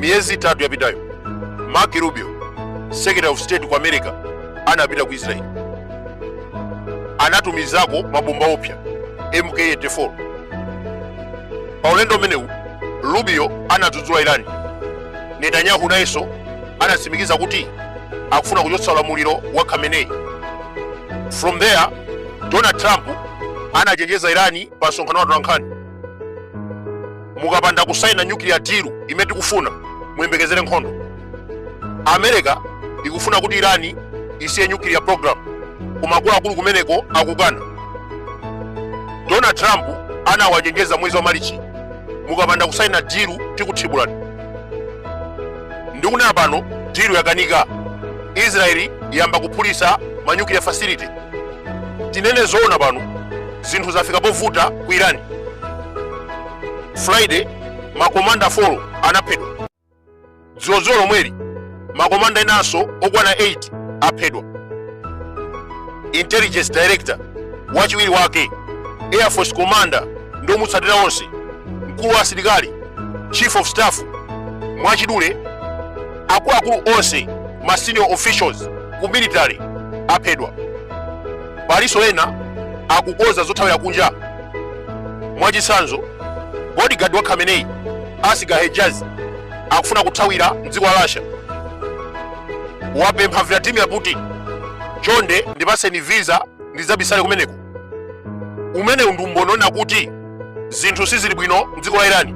miyezi itatu yapitayo marco rubio secretary of state ku america anapita ku israel anatumizako mabomba opya mk84 pa ulendo umenewu rubio anadzudzula irani netanyahu nayenso anatsimikiza kuti akufuna kuchotsa ulamuliro wa khamenei from there donald trump anachenjeza irani pa msonkhano wa atolankhani mukapanda kusaina nuclear deal imene tikufuna muyembekezere nkhondo america ikufuna kuti irani isiye nuclear program koma akuluakulu kumeneko akukana donald trump anawachenjeza mwezi wa malichi mukapanda kusaina dilu tikuthibulani ndikunena pano dilu yakanika israeli yayamba kuphulitsa ma nuclear facility tinene zoona pano zinthu zafika povuta ku irani friday makomanda 4 anaphedwa dzulodzulo lomweli makomanda enanso okwana 8 aphedwa intelligence director wachiwiri wake air force commander ndi omutsatira onse mkulu wa asilikali chief of staff mwachidule akuluakulu onse ma senior officials ku military aphedwa palinso ena akukonza zothawira kunja mwachitsanzo bodyguard wa khamenei asghar hejazi akufuna kuthawira mdziko la russia wapempha vladimir putin chonde ndipatseni visa ndidzabisale kumeneko umenewu ndi umboni onena kuti zinthu sizili bwino mdziko la irani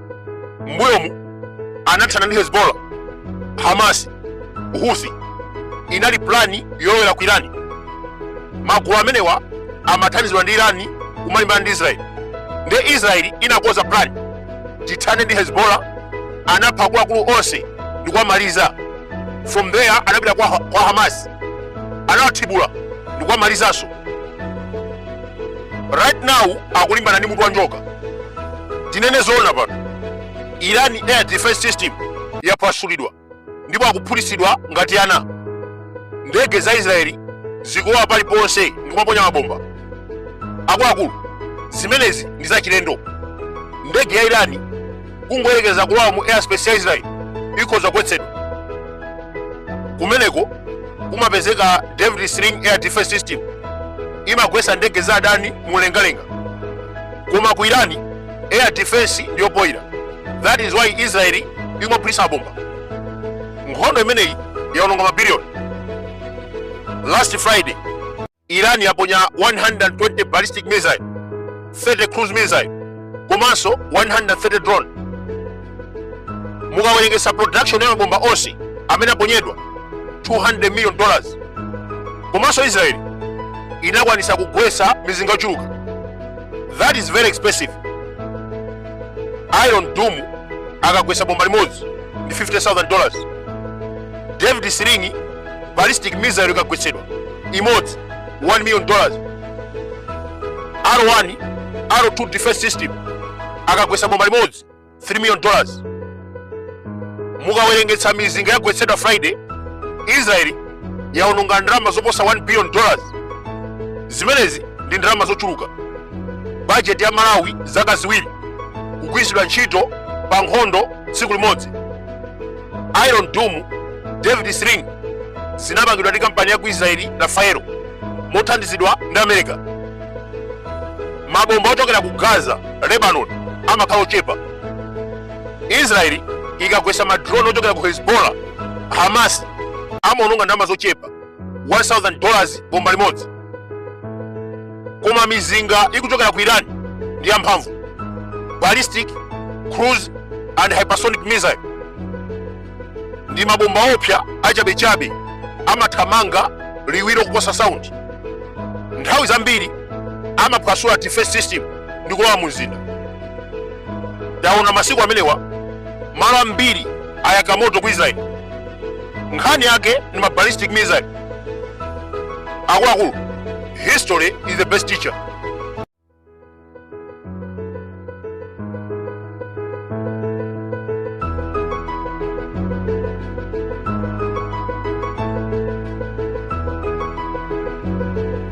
mbuyomu anathana ndi hezbollah hamas houthi inali plani yolowera ku irani magulu amenewa amathandizidwa ndi irani kumalimbana ndi israeli nde israeli inakonza plani tithane ndi hezbollah anapha akuluakulu onse ndi kuwamaliza from there anapita kwa hamas anawathibula ndi kuwamalizanso right now akulimbana ndi mutu wa njoka tinene zoona pano irani air defense system yaphwasulidwa ndipo akuphulitsidwa ngati ana ndege za israeli zikulowa paliponse ndikumaponya mabomba akuluakulu zimenezi ndi zachilendo ndege ya irani kungoyerekeza kulowa mu airspace ya israeli ikhoza kugwetsedwa kumeneko kumapezeka david sling air defense system imagwetsa ndege za adani mulengalenga koma ku irani air defense ndi yopoyira that is why israeli ikumaphulitsa mabomba nkhondo imeneyi yaononga mabiliyoni last friday iran yaponya 120 ballistic missile 30 cruise missile komanso 130 drone mukawerengesa production ya mabomba onse amene aponyedwa 200 million dollars komanso israel inakwanisa kugwesa mizinga yochuluka that is very expensive iron dome akagwesa bomba limodzi ndi 50000 dollars david sling ballistic missile ikagwetsedwa imodzi 1 million dollars arrow 1 arrow 2 defense system akagwetsa bomba limodzi 3 million dollars mukawerengetsa mizinga yagwetsedwa friday israeli yaononga ndalama zoposa 1 billion dollars zimenezi ndi ndalama zochuluka bajeti ya malawi zaka ziwiri kugwiritsidwa ntchito pa nkhondo tsiku limodzi iron dome david sling zinapangidwa ndi kampani ya ku israeli rafael mothandizidwa ndi america mabomba ochokera ku gaza lebanon amakhala ochepa israeli ikagwetsa madrone ochokera ku hezbollah hamas amaononga ndalama zochepa 1000 dollars bomba limodzi koma mizinga ikuchokera ku iran ndi yamphamvu ballistic cruise and hypersonic missile ndi mabomba oopsa achabechabe amathamanga liwiro kuposa sound nthawi zambiri amaphwasula defense system ndi kulowa mu mzinda taona masiku amenewa malo ambiri ayaka moto ku israeli nkhani yake ni ma ballistic missile akuluakulu history is the best teacher